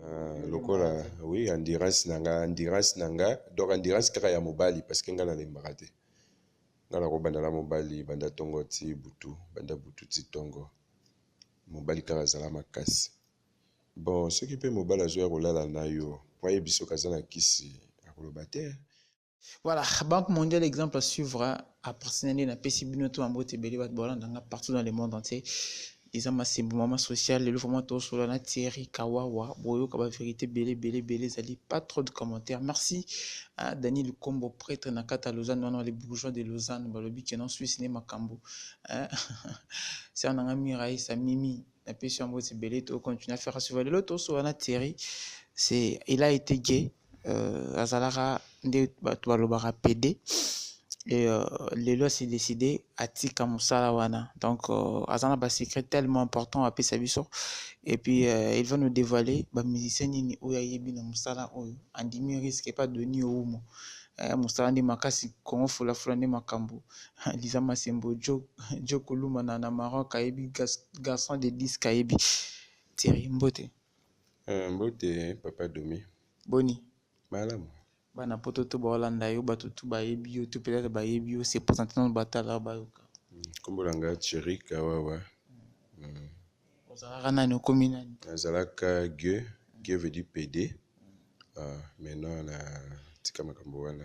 Euh, lokola oui endurance na nga endurance na nga donc endurance kaka ya mobali parce que nga nalembaka te nga nakobanda na mobali banda tongo ti butu banda butu ti tongo mobali kaka azala makasi bon soki mpe mobali azoya kolala na yo mpo ayebi soki aza na kisi akoloba te Voilà, Banque mondiale, exemple à suivre, hein. après c'est na pesi bino to ambo te bele bat bolanda nga partout dans le monde entier. Eza masimbu mama social, le vraiment to solo na Thierry Kawawa, boyo kaba vérité bele bele bele zali pas trop de commentaires. Merci à hein, Daniel Lukombo prêtre na kata Lausanne, non non les bourgeois de Lausanne, balobi que non Suisse ne makambo. Hein. C'est un ami Raïs Mimi, na pesi ambo te bele to continuer à faire suivre. Le lot to solo na Thierry, c'est il a été gay euh, azalaka nde bato balobaka pede et euh, lelo asi décide atika mosala wana donc euh, aza na basecret tellement important apesa biso et puis euh, il va nous dévoiler bamusicien nini oyo ayebi na mosala oyo andimi risque epa doni oumo eh, mosala nde makasi kongo fulafula nde makambo liza masembo jo, jo kuluma na, na maroc ayebi garçon de disque ayebi tieri mbote Eh, mbote papa Domi. Boni? Malamu. Bana poto to baolanda yo, bato tu bayebi yo, to peut-être bayebi yo, se présenter nanu batala bayoka. Nkombo na nga Thierry Kawawa. Mm. Ozalaka nani? Okomi nani? Nazalaka Gueux, Gueux veut dire PD. Ah, maintenant na tika makambo wana.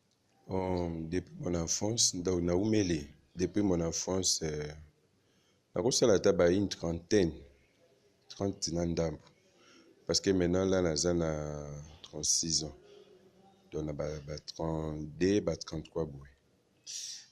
Depuis mon enfance nawumeli depuis mon enfance nakosala ata ba une trentaine trente na ndambo parce que maintenant là naza na 36 ans donc na ba 32 ba 33 boye.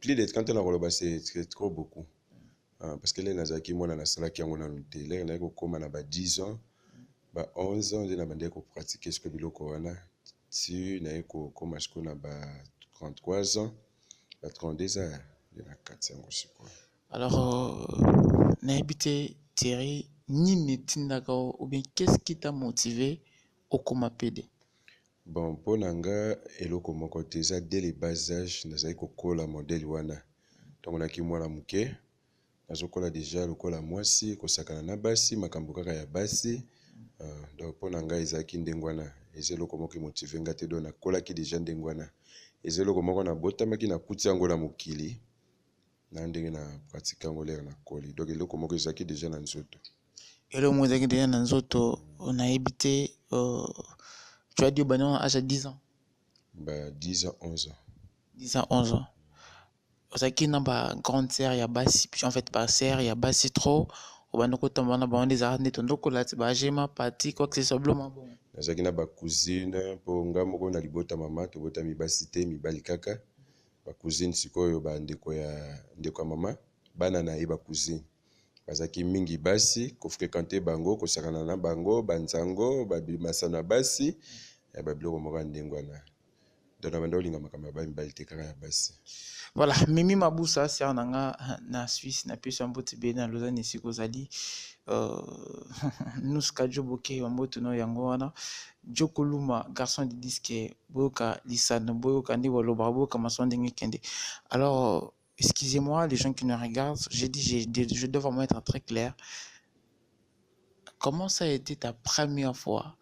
Plus de 30 ans nakoloba c'est trop beaucoup. Ah, parce que lere nazalaki mwana nasalaki yango nanu te lere naye kokoma na ba 10 ans ba 11 ans nde nabandaki kopratike siko biloko wana ti naye kokoma siko na ba 33 ans ba 32 ans nde na kati yango sikoyo alors euh, nayebi te thierry nini etindaka ou bien qu'est ce qui t'a motivé okoma pede Bon pona nga eloko moko te eza dès le bas age nazali kokola modèle wana tango na ki muana muke nazokola dejà lokola muasi kosakana na basi makambo kaka ya basi donc pona nga ezalaki ndenge wana eza eloko moko emotive nga te donc nakolaki dejà ndenge wana eza eloko moko nabotamaki nakuti yango na mokili. Ngai ndenge na pratique yango lere na koli donc eloko moko ezalaki deja na nzoto. Eloko moko ezalaki deja na nzoto nayebi te. Euh, tu as dit obanda na age ya 10 ans? Ba 10 ans 11 ans. 10 ans 11 ans. Ozalaki na ba grande sœur ya basi en fait ba sœur ya basi trop obanda kotambola na bango nde ezalaka nde tondo kolati ba gema pati quoi que ce soit biloko moko bongo. Nazalaki na ba cousine mpo ngai moko na libota mama tobotami basi te mibali kaka. ba cousine sikoyo ba ndeko ya ndeko ya maman bana na ye ba cousine bazalaki mingi basi ko frequenter bango kosakana na bango ba nzango ba masano ya basi eh, ba biloko moko ya ndenge wana donc na banda olinga makambo ya ba mibali te kaka ya basi voilà mimi mabusa sœur na nga na suisse na pesi ya mbote bele na lausanne esika ozali euh, nuska joboke ya mbote no yango wana Djo Koluma garçon de disque boyoka lisano boyoka nde balobaka boyoka mason ndenge kende alors excusez-moi les gens qui me regardent j'ai dit je dois vraiment être très clair comment ça a été ta première fois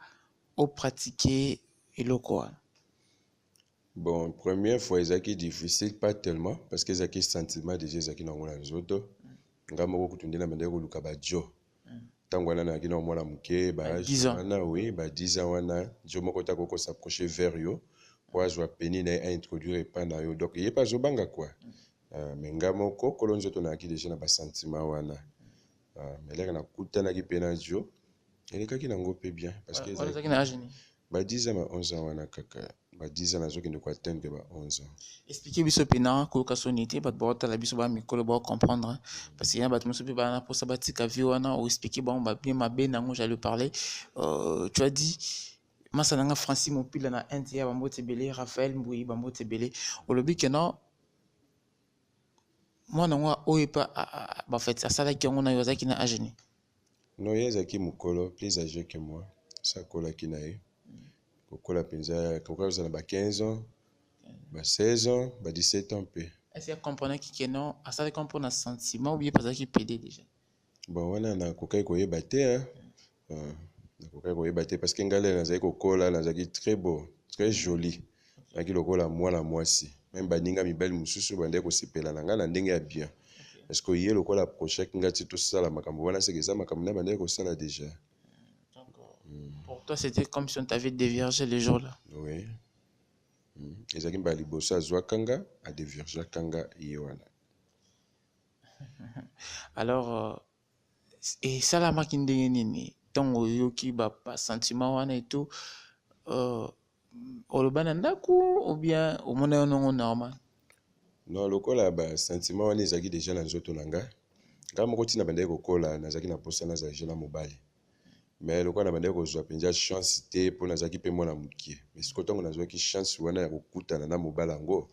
au pratiquer eloko wana Bon première fois ezalaki difficile pas tellement parce que ezalaki sentiment déjà ezalaki na yango na nzoto ngai moko kutu nde na bandaki koluka bajo ntango wana nayaki na mwana moke baage wana oui ba 10 ans wana jo moko te akoki kosaproche vers yo mpo azwa peni na ye aintroduire epa na yo donc ye mpe azobanga kua ah, me ngai moko kolo nzoto nayaki déjà na basentiment wana ah, melere nakutanaki mpe na jo elekaki na ngo pe bien parce que ezalaki na age nini ba 10 ans ba 11 ans wana kaka ba 10 ans nazokende ko atteindre ba 11 ans expliquer biso pe na koyoka soni te bato baotala biso ba mikolo bao comprendre parce que ya bato mosusu pe bana posa batika vie wana o expliquer bango ba bien mabe na yango j'allais parler euh, tu as dit masa na nga francis mopila na inde ya bambote ebele raphael mbuyi bambote ebele olobi ke non mwana yango oyo epa bafete asalaki yango na yo azalaki na agenie Noye azalaki mukolo plus age que moi esi akolaki na ye kokola penza akokaki kozala na ba 15 ans ba 16 ans ba 17 ans mpe Esi a comprenaki que non asalaki yango mpo na sentiment ou bien mpe azalaki pede dejà? bon wana nakokaki koyeba te hein euh, nakokaki koyeba te parce que ngai lelo nazali kokola nazalaki très beau très jolie Nazalaki lokola mwana mwasi. Meme baninga mibali mosusu bandaki kosepela na ngai na ndenge ya bien. Parce que ye lokola approchaki ngai ti tosala makambo wana seke eza makambo naye bandaki kosala dejà. Pour toi c'était comme si on t'avait devierge le jour là. Oui. Ezalaki mbala liboso azwaka nga a deviergeaka nga ye wana. Alors esalamaki ndenge nini ntango oyoki basantima wana eto euh, oloba na ndako obien omona yo nongo normal non lokola basantima wana ezalaki deja na nzoto na ngai ngai moko ntina bandaki kokola nazalaki na mposa nazala deja na mobali mais lokola nabandaki kozwa mpenza chance te mpo nazalaki mpe mwana mokie mais siko ntango nazwaki chance wana ya kokutana na mobali yango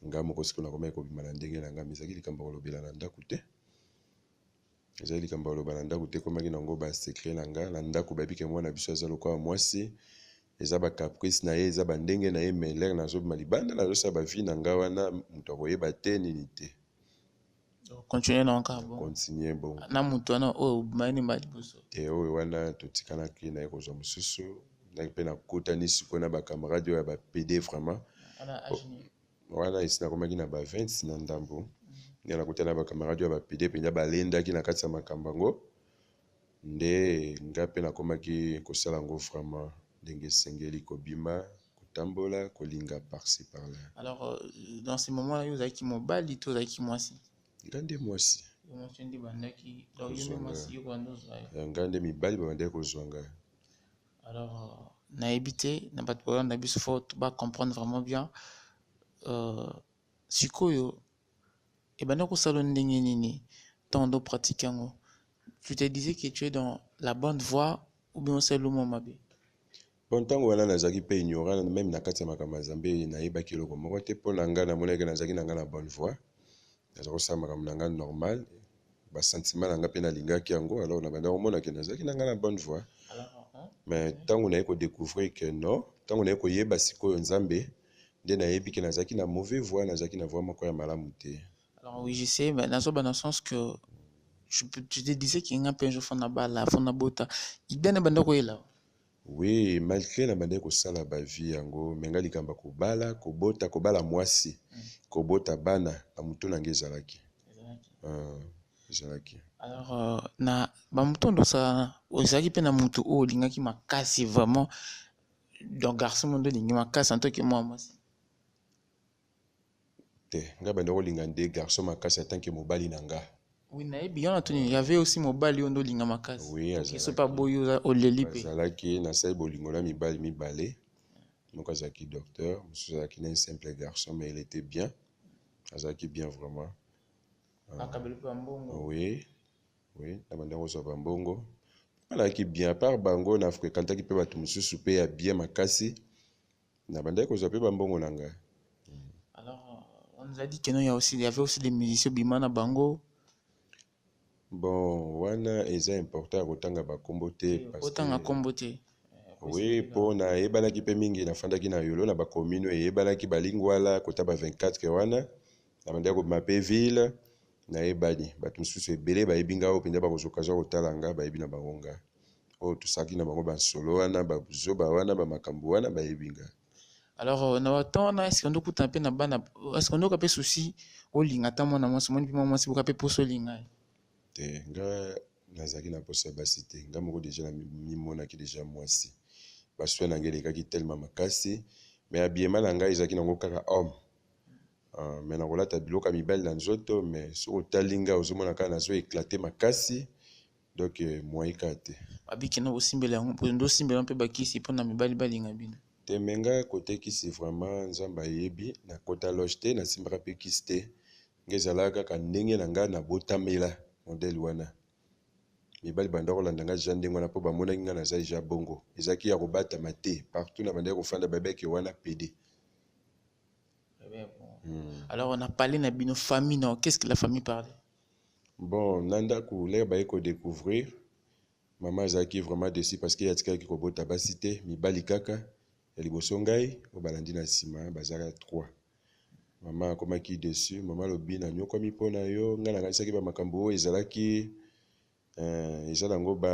ngai moko siko nakomaki kobima na ndenge na ngai mais ezalaki likambo ya kolobela na ndako te ezali likambo ya koloba na ndako te ekomaki na yango ba secret na nga na ndako bayebi ke mwana biso aza lokola mwasi eza ba caprice na ye eza ba ndenge na ye mais lere nazobima libanda nazosala ba vie na nga wana moto akoyeba te nini te continue na yango bon continue bon na moto wana oyo obimaki nde mbala liboso te oyo wana totikanaki na ye kozwa mosusu ndaki mpe nakutani sikoyo na ba camarade oyo ya ba pede vraiment Wana esi nakomaki na ba 20 na ndambo, nde nakutani na bakamarade ya bapide mpenza balendaki na kati ya makambo yango, nde ngai mpe nakomaki kosala yango vraiment ndenge esengeli, kobima kotambola, kolinga par ci par là. Alors, euh, dans ce moment, yo ozalaki mobali to ozalaki mwasi? Ngai nde mwasi. Mwasi nde bandaki, donc yo nde mwasi yo banda ozwa ye. Ngai nde mibali babandaki kozwa ngai. Alors nayebi te na bato balanda biso fo ba comprendre vraiment bien euh, sikoyo ebanda kosala ndenge nini ntango ndo pratique yango tu te disais que tu es dans la bonne voie ou bien osali lomo mabe bon ntango wana nazalaki mpe ignorant meme na kati ya makambo ya nzambe nayebaki eloko moko te mpo na ngai namonaki nazalaki na ngai na bonne voie naza kosala makambo na ngai normal ba sentiment na nga pe na lingaki yango alors na bandaki komona ke nazalaki na nga na bonne voie mais tango naye ko decouvrir ke non tango naye koyeba sikoyo nzambe nde nayebi ke nazalaki na mauvais voie nazalaki na voie moko ya malamu te alors oui je sais mais nazo ba na sens que je, je te disais que nga pe un jour fona bala fona bota idée na bandaki koyela Oui malgre na bandaki kosala ba vie yango mais nga likambo ya kobala kobota kobala muasi kobota bana na mutu na nga ezalaki ezalaki alors euh, na ba mutu oyo osalana ozalaki mpe na mutu oyo olingaki makasi vraiment donc garçon mondo olingi makasi antoki mwa mwasi te nga banda kolinga nde garçon makasi atanke mobali na nga Oui, nayebi yo natuni il y avait aussi mobali oyo nde olinga makasi Oui, soki azalaki. soki aboyi oza- oleli mpe azalaki nasali bolingo na mibali mibale moko azalaki docteur mosusu azalaki na un simple garçon mais il était bien azalaki bien vraiment akabeli mpe bambongo oui oui na banda kozwa bambongo alaki bien apart bango na fréquentaki mpe bato mosusu mpe ya bien makasi Na bandaki kozwa pe ba mbongo na nga. Alors on nous a dit que non, il y a aussi, il y avait aussi des musiciens obima na bango. Bon wana eza important ya kotanga ba kombo te parce que. Otanga kombo te. Oui, po nayebanaki pe mingi nafandaki na Yolo na ba commune eyebanaki ba Lingwala kota ba 24 ke wana na bandaki kobima pe ville nayebani bato mosusu ebele bayebi nga oyo mpenza bakozwa okazwa kotala nga bayebi na bango nga. oyo tosalaki na bango ba nsolo wana ba buzoba wana ba makambo wana bayebi nga alors euh, na ba temps wana est-ce qu'on okutana pe na bana est-ce qu'on oka pe souci olinga ata mwana mwasi omoni pe mwana mwasi boka pe poso olinga ye te nga nazalaki na poso ya basi te nga moko deja namimonaki deja mwasi baswe na ngai elekaki telema makasi me abiema na ngai ezalaki nango kaka homme uh, me nakolata biloko ya mibali na nzoto me soki otali ngai ozomona kaka nazo eklate makasi Donc moyen kaka te. Ba biki na bosimbela yango bozo ndo simbela mpe ba kisi mpo na mibali balinga bino. Te mais nga cote kisi vraiment nzambe ayebi na kota loge te na simbaka mpe kisi te nga ezalaka kaka ndenge na nga na botamela modèle wana mibali banda kolanda nga dejà ndenge wana mpo bamonaki nga naza dejà bongo ezalaki ya kobatama te partout na bandaki kofanda babeke wana pede Eh bien, bon. Hmm. Alors, on a parlé na bino famille, non Qu'est-ce que la famille parle Bon na ndaku lere baye ko decouvrir maman azalaki vraiment desi parce que atikaki kobota basi te mibali kaka ya liboso ngai oyo balandi na nsima bazalaka 3 mama akomaki dessus mama alobi nanyokwami mpo na yo ngai nakanisaki bamakambo oyo ezalaki Eeh eza na ngo ba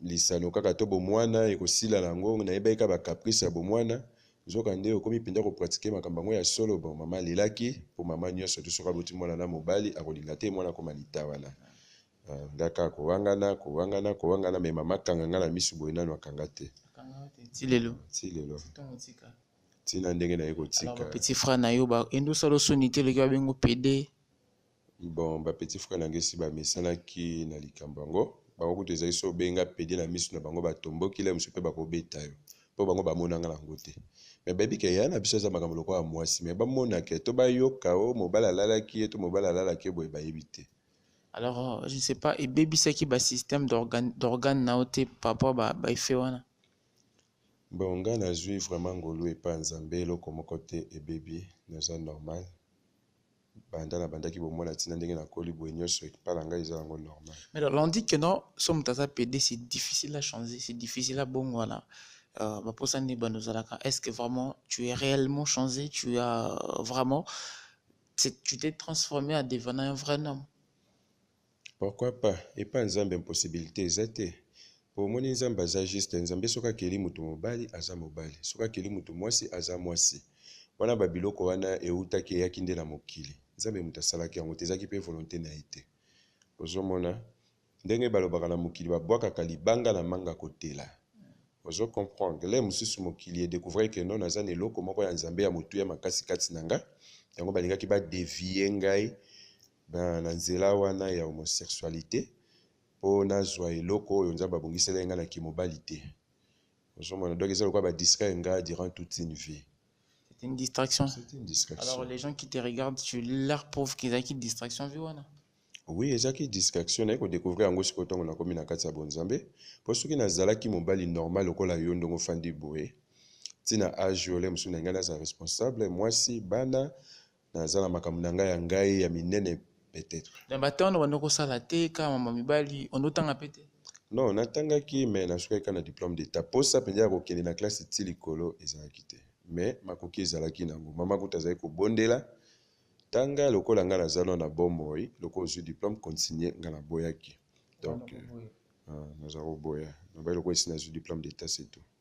lisano kaka to bomuana ekosila na yango nayebaki kaka ba caprice ya bomuana nzoka nde okomi penza ko pratique makambo yango ya solo bon mama alelaki po mama nionso te soki aboti muana na mobali akolinga te muana akoma litawana nga kaka kowangana kowangana kowangana mais mama akanga nga na misu boye nanu akanga te ti lelo ti lelo ti na ndenge naye kotika petit frère na yo ba endosa lo soni te loki babengo pede Bon, ba petits frères na ngai esi bamesanaki na likambo yango. Bango kutu ezali soki obenga pede na miso na bango batomboki, lelo mosusu mpe bakobeta yo mpo bango bamona nga na yango te. Mais bayebi ke yaya na biso aza makambo lokola mwasi mais bamona ke to bayoka o mobali alalaki ye to mobali alalaki ye boye bayebi te. Alors, je ne sais pas, ebebisaki ba systèmes d'organes d'organes na yo te par rapport ba ba effets wana? Bon, ngai nazwi vraiment ngolu epai ya Nzambe, eloko moko te ebebi, naza normal. banda na bandaki bomwana tina ndenge na koli boye nyoso ekpala ngai eza yango normal mais alors on dit que non so moto aza pede c'est difficile à changer c'est difficile à bongwana euh, baposa nde bando ozalaka est ce que vraiment tu es réellement changé tu as euh, vraiment tu t'es transformé à devenant un vrai homme Pourquoi pas epa nzambe impossibilite eza te po omoni nzambe aza juste nzambe soki akeli mutu mobali aza mobali soki akeli mutu muasi aza muasi wana ba biloko wana ewutaki eyaki nde na mokili nzambe mutu asalaki yango te ezaki pe volonte na ye te ozomona ndenge balobaka na mokili ba bwakaka libanga na manga kotela ozo comprendre le mususu mokili e decouvrir que non naza na eloko moko ya nzambe ya motuya makasi kati na nga yango balingaki ba devier ngai na, na nzela wana ya homosexualite, mpo nazua eloko oyo Nzambe abongiselaki ngai na kimobali te. Ozomona? Donc eza lokola ba distraire ngai durant toute une vie. C'est une distraction. C'est une distraction. Alors les gens qui te regardent, tu leur prouves qu'ils ont une distraction vie wana. Oui, ezalaki distraction naye kodécouvrir yango sikoyo ntango nakomi na kati ya bonzambe mpo soki nazalaki mobali normal lokola yo ndenge ofandi boye ntina age ole mosusu na ngai naza responsable mwasi bana Naza na makambo na ngai ya ngai ya minene peut etre. Na ba temps obanda kosala te kaka mama mibali ondo otanga pe te? Non natangaki mais nasukaki kaka na diplome d'etat posa mpenza ya kokende na classe ti likolo ezalaki te mais makoki ezalaki na yango mama kutu azalaki kobondela tanga lokola ngai naza nao na bomoi lokola ozwi diplome continue ngai naboyaki donc euh, euh, naza koboya nabai lokola esi nazwi diplome d'etat c'est tout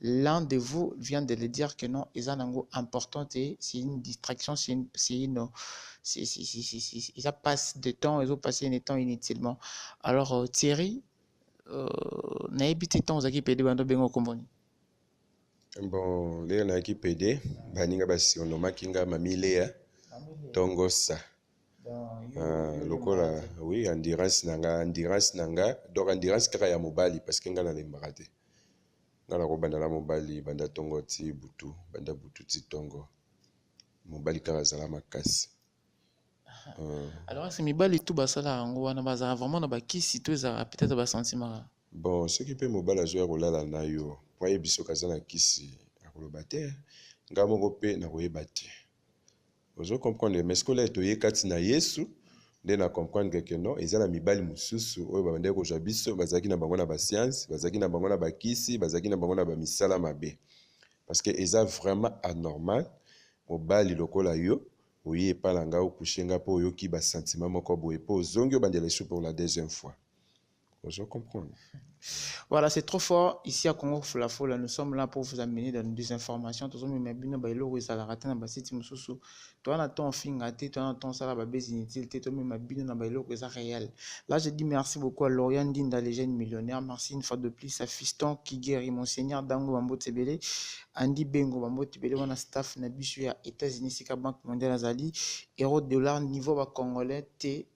L'un de vous vient de le dire que non eza nango important te c'est une distraction c'est une c'est une c'est c'est c'est c'est c'est- eza passe de temps ezo passer ne temps inutilement alors euh, Thierry euh, nayebi te temps ozalaki pede bando bengo komboni bon lelo nayaki pede baninga basurnomaki nga mami lea tongosa Ah, lokola oui endurance na nga endurance na nga donc endurance kaka ya mobali parce que nga nalembaka te Nga nako banda na mobali banda tongo ti butu banda butu ti tongo mobali kaka zala makasi. Alorasi mibali tu basala yango wana bazala vraiment na bakisi to ezalaka peut-etre ba sentimaka. Bon soki pe mobali azo ya kolala na yo po ayebi soki aza na kisi akoloba te nga moko pe nakoyeba te. Ozo comprendre mais sikoyo lelo toye kati na Yesu nde na comprendre que non eza na mibali mosusu oyo babandaki kozwa biso bazalaki na bango na ba science bazalaki na bango na bakisi bazalaki na bango na bamisala mabe parce que eza vraiment anormal mobali lokola yo oye epai na ngai okushe ngai mpo oyoki basentiment moko boye mpo ozongi obandela esu pour la deuxième fois Ozo comprendre? Voilà, c'est trop fort. Ici à Congo Fula Fula, nous sommes là pour vous amener dans des informations. Tozo mema bino ba eloko ezalaka te na ba site mosusu. Toi na ton finga te, toi na ton sala ba base inutile te, to mema bino na ba eloko eza réel. Là, je dis merci beaucoup à Lorian Dinda, les jeunes millionnaires. Merci une fois de plus à Fiston qui guérit mon Seigneur Dango Bambo Tsebele, Andy Bengo Bambo Tsebele, wana staff na bisu ya États-Unis sika Banque mondiale azali, euro dollar niveau ba congolais te.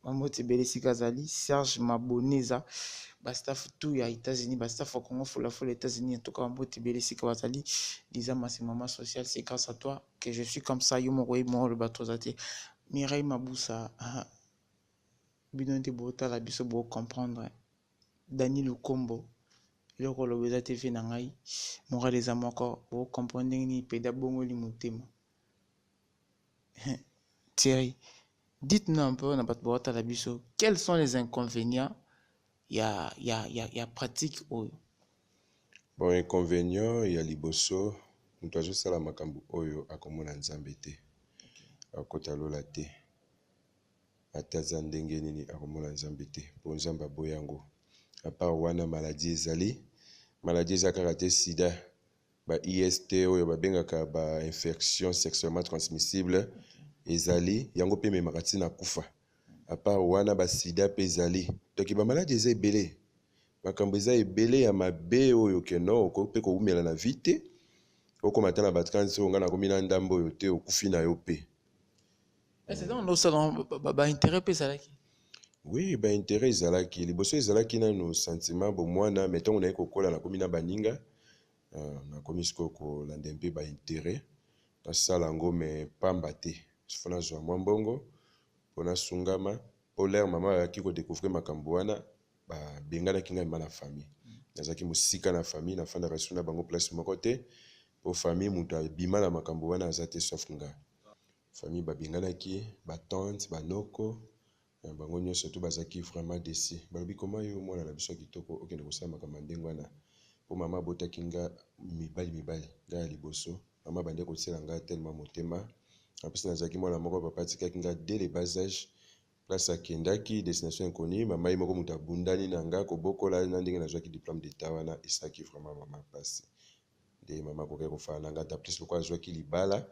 Mamoti Bele esika azali, Serge Maboneza, ba staff tout ya Etats-Unis, ba staff ya Congo Fola Fola Etats-Unis, en tout cas Mamoti Bele esika bazali, Liza Masi maman sociale, c'est grâce à toi que je suis comme ça, yo moko oyebi mwa oloba trop oza te, Mireille Mabusa, ah, bino nde botala biso bo comprendre, Dany Lukombo, eloko oloba eza te vie na ngai, morale eza moko, bo comprendre ndenge nini pede abongoli motema. Thierry, dites-nous un peu na bato baotala biso, quels sont les inconvénients ya, ya, ya, ya pratique oyo? Bon, inconvénient ya liboso, moto azosala makambo oyo akomona Nzambe te, akokota lola te. Ata aza ndenge nini akomona Nzambe te, mpo Nzambe aboyi yango. A part wana maladie ezali, maladie eza kaka te sida, Ba IST oyo babengaka ba infections sexuellement transmissibles ezali, yango mpe ememaka ti na kufa. A part wana ba sida mpe ezali. Donc ba maladi eza ebele, makambo eza ebele ya mabe oyo que non okoki mpe kowumela na vie te, okoma ata na ba 30 oyo nga nakomi na ndambo oyo te, okufi na yo mpe. Oui, ba intérêt ezalaki liboso ezalaki nanu sentiment bomwana mais ntango naye kokola nakomi na baninga euh, nakomi sikoyo kolanda mpe ba intérêt nasala yango mais pamba te fo nazwa mwa mbongo mpo nasungama mpo lere mama ayaki kodecouvrir makambo wana babenganaki ngai ma na famille nazalaki mosika na famille nafandaka lisusu na bango place moko te mpo famille moto abima na makambo wana aza te sauf ngai Famille ba benganaki ba tante ba noko bango nionso tout bazalaki vraiment deçu balobi comment yo muana na biso ya kitoko okende kosala makambo ya ndenge wana po maman abotaki nga mibali mibale nga ya liboso maman abandaki kotiela nga tellement motema en plus nazalaki muana moko papa atikaki nga dès le bas age place akendaki destination inconnue maman ye moko mutu abundani na nga kobokola na ndenge nazwaki diplome d'etat wana esalaki vraiment maman pasi nde mama akokaki kofana na nga daplis lokola azwaki libala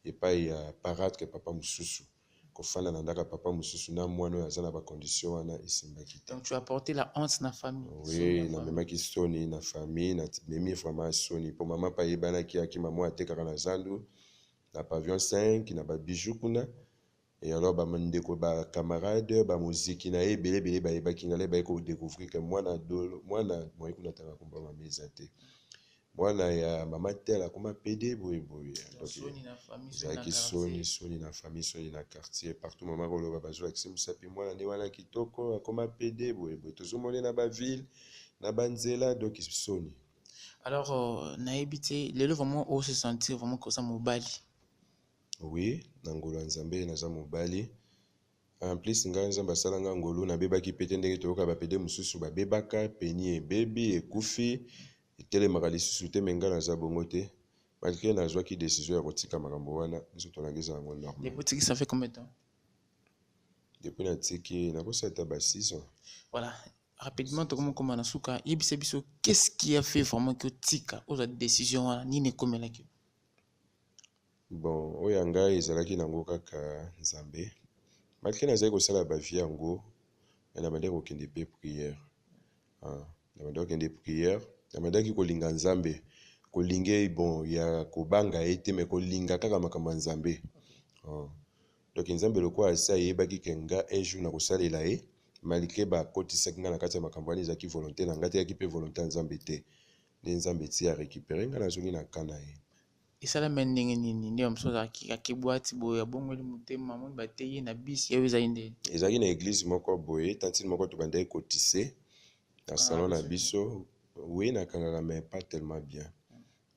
epai ya paratre papa mosusu kofanda na ndako ya papa mosusu na mwana oyo aza na bacondition wana esimbaki te Donc tu as porté la honte na famille. soni oui na famille. namemaki soni na famille namemi vraiment soni mpo mama mpe ayebanaki akima mwa atekaka na zandu na pavion 5 na babiju kuna Et alors ba ndeko ba camarade ba moziki naye ebele ebele ba yebaki nga nde baye ko decouvrir que mwana dolo mwana moye kuna tanga kombo mabe eza te mwana ya mama tel akoma pede boye boye ezalaki soni soni na famille soni na quartier partout mama koloba bazolakisi mosapi mwana nde wana kitoko akoma pede boye boye tozomone na baville na banzela donc soni alors euh, nayebi te lelo vraiment ose sentir vraiment koza mobali Oui na ngolu ya nzambe naza mobali en plus nga nzambe asala nga ngolu nabebaki pe te ndenge toyoka ba pede mosusu babebaka peni ebebi ekufi etelemaka lisusu te mais nga naza bongo te malgre nazwaki decision ya kotika makambo wana nzoto nanga eza yango normal Depuis otiki ça fait combien de temps depuis natiki nakosi ata ba 6 ans Voilà. Rapidement, tokomi koma na suka. Yebisa biso, qu'est-ce qui a fait vraiment que otika ozwa décision wana nini ekomelaki yo? Bon oyo ya ngai ezalaki nango kaka Nzambe malgre nazali kosala ba vie yango mais nabandaki kokende pe prière ah, nabandaki kokende prière nabandaki kolinga Nzambe kolinga ye bon ya kobanga ye te mais kolinga kaka makambo ya Nzambe ah. donc Nzambe lokola asi ayebaki ke nga un jour nakosalela ye malgre bakotisaki nga na kati ya makambo wana ezalaki volonté na nga te eyaki pe volonté ya Nzambe te nde Nzambe ti a récupérer nga nazongi na camp na ye Esalami ya ndenge nini nde bamosusu bazalaka akebwati boye abongoli motema amoni batei ye na bisi yayo ezali nde ezalaki na eglise moko boye tantine moko tobandaki kotise na ah, salon na biso wi nakangaka mais pas tellement bien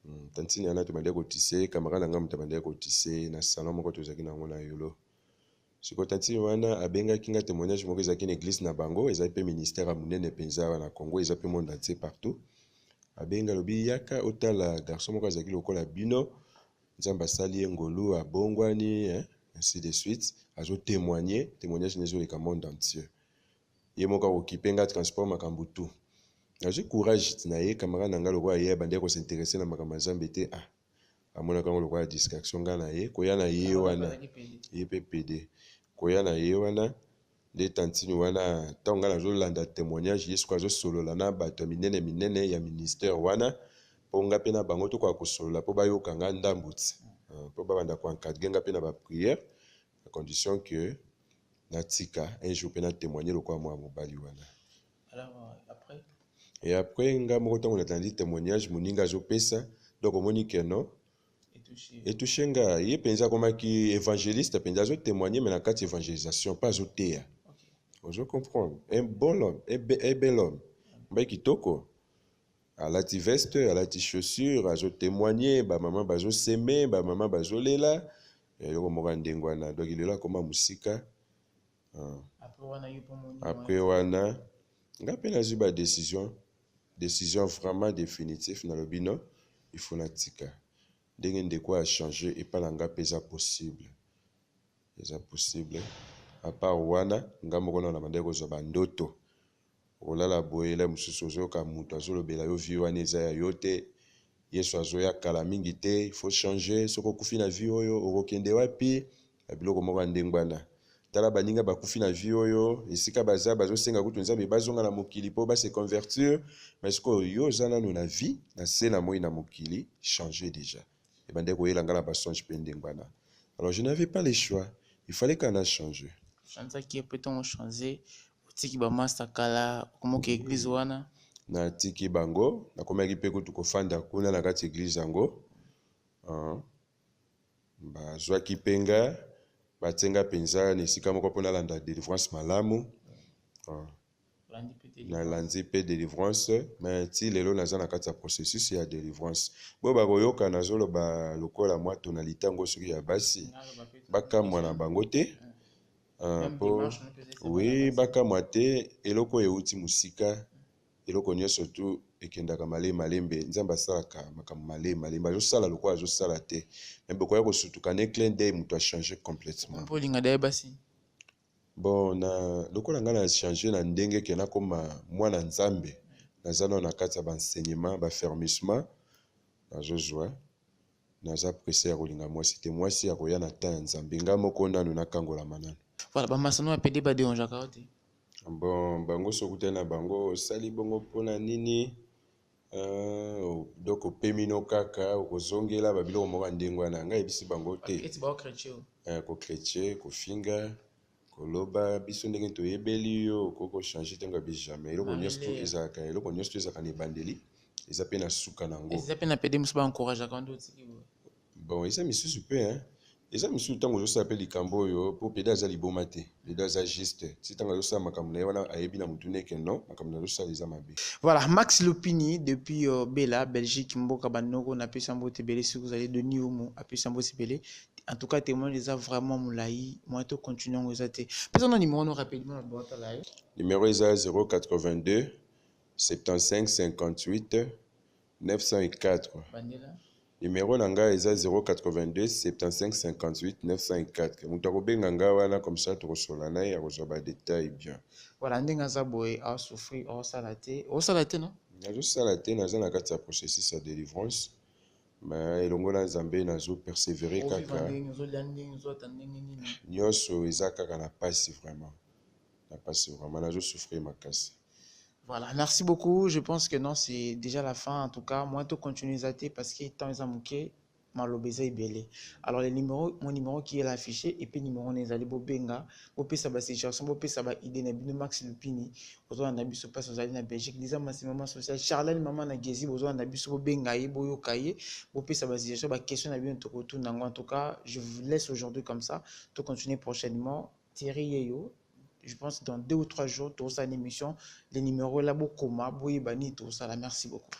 hmm, tantine yana tobandaki kotise camarade na ngai moto abandaki kotise na salon moko tozalaki na yango na yolo Sikoyo tantine wana abengaki nga temoignage moko ezalaki na eglise na bango ezali mpe ministère ya monene mpenza wana Congo eza mpe monde entier partout abengi alobi yaka otala garçon moko azalaki lokola bino nzambe asali ye ngolu abongwani hein? ainsi de suite azo témoigner témoignage na ezoleka monde entier ye moko akokipe nga transport makambo tout nazwi courage na ye camarade na ngai lokola ye abandaki kosinteresse na makambo ya nzambe te ah amonaka yango lokola distraction nga na ye koya na ye wana ye mpe pede koya na ye wana nde tantine wana ntango nga nazolanda témoignage ye sikoyo azosolola na bato ya minene minene ya ministère wana mpo nga mpe na bango tokoka kosolola mpo bayoka nga ndambu ti euh, mpo babanda koencadre nga mpe na baprière à condition que natika un jour mpe na témoigne lokola mwana mobali wana Et après, nga moko tango natandi témoignage moninga azopesa, donc omoni que non etouche nga ye mpenza akomaki évangéliste mpenza azo témoigner mais na kati évangélisation mpe azoteya ozo comprendre un bon homme un bel homme mbai kitoko alati veste alati chaussure azo témoigner bamama bazoseme bamama bazolela eloko moko ya ndenge wana donc lelo akoma mosika Ah. Après wana nga mpe nazwi ba decision decision vraiment définitif na lobi non il faut natika ndenge ndeko a changer epai na nga mpe eza possible eza possible apart wana nga moko nao na bandaki kozwa bandoto Okolala boye hela mususu ozoyoka mutu azolobela yo vie wana eza ya yo te yesu azoya kala mingi te il faut change soki okufi na vie oyo okokende wapi na biloko moko ya ndenge wana tala baninga bakufi na vie oyo esika baza bazosenga kutu nzambe bazonga na mokili mpo base convertir mais sikoyo yo oza nano na vie na se na moi na mokili change deja ebandaki koyela nga na ba songe mpe ndenge wana alors je n'avais pas le choix il fallait kaka na changer chanzaki mpe ntongo change otiki bamasta kala okomoka eglise wana natiki bango nakomaki mpe kutu kofanda kuna na kati eglise yango uh, bazwaki mpe nga batie nga mpenza na esika moko mpo nalanda delivrance malamu uh. na landi pe delivrance mais ti lelo naza na kati ya processus ya delivrance bo bako yoka nazo loba lokola mwa tonalite yango soki ya basi ba kamwa na bango te ah, po oui ba kamwa te eloko euti musika eloko nionso tu ekendaka male malembe nzambe asalaka makambo male malembe azosala lokola azosala te me bokoya kosutuka ne clin dei moto achange complètement Bon na lokola nga na changer na ndenge ke nakoma mwana Nzambe naza nano na kati ya ba enseignements, ba fermissement nazo zwa naza presse ya kolinga mwasi te mwasi akoya na temps ya Nzambe nga moko nano nakangolama nano. Voilà ba masano ya pede ba derangeaka yo te? Bon bango soki okutani na bango osali bongo pona nini? Euh, o- donc opemi no kaka okozongela babiloko moko ya ndenge wana ngai yebisi bango te Baketi bao chrétien oyo. Eh, kokretie kofinga koloba biso ndenge toyebeli yo okoki kochange te ngabi jamais eloko Marie nyonso tu Lea. ezalaka eloko nyonso tu ezalaka na ebandeli eza mpe na suka na yango Eza pe na pede musu ba encourageaka nde otiki boye. Bon eza misusu pe hein. Eza misusu tango ozo sala pe likambu oyo po pede aza liboma te. Pede aza juste ti tango azo sala makambu naye wana ayebi na mutu ne que non makambu nazo sala eza mabe. Voilà Max Lopini depuis Bela Belgique mboka ba noko na pesa mbote ebele soki ozali Denis Humu apesa mbote ebele en tout cas temoignage eza vraiment mulayi moyen to continuer yango eza te pesa na numero no rapidement na bota la yo numero eza 082 75 58 904 numero na ngai eza 082 75 58 904 moto akobenga ngai wana comme ça tokosolola na ye akozwa badetail bien voilà ndenge aza boye asouffrir osala te osala te no nazosala te naza na kati ya processus ya délivrance ma elongo na nzambe nazo persévere kaka nyonso eza kaka na mpasi vraiment Na pasi vraiment nazo souffrir makasi. Voilà, merci beaucoup. Je pense que non, c'est déjà la fin. En tout cas, moi, tout continue à parce que temps est manqué, malobeza est belé. Alors, les numéros, mon numéro qui est là affiché, et puis numéro n'est allé bobenga, bopé ça ba situation, bopé ça ba idée, n'a bino max lupini, ozo na biso passe aux allées na Belgique, les amas, c'est maman sociale, Charlène, maman na gezi, ozo na biso bobenga ye, boyo kaye, bopé ça ba situation, ba question na bino toko tout, en tout cas, je vous laisse aujourd'hui comme ça, tout continuer prochainement. Thierry yeyo je pense dans deux ou trois jours tokosala na emission le numero est là bokoma boyeba nini tokosala merci beaucoup.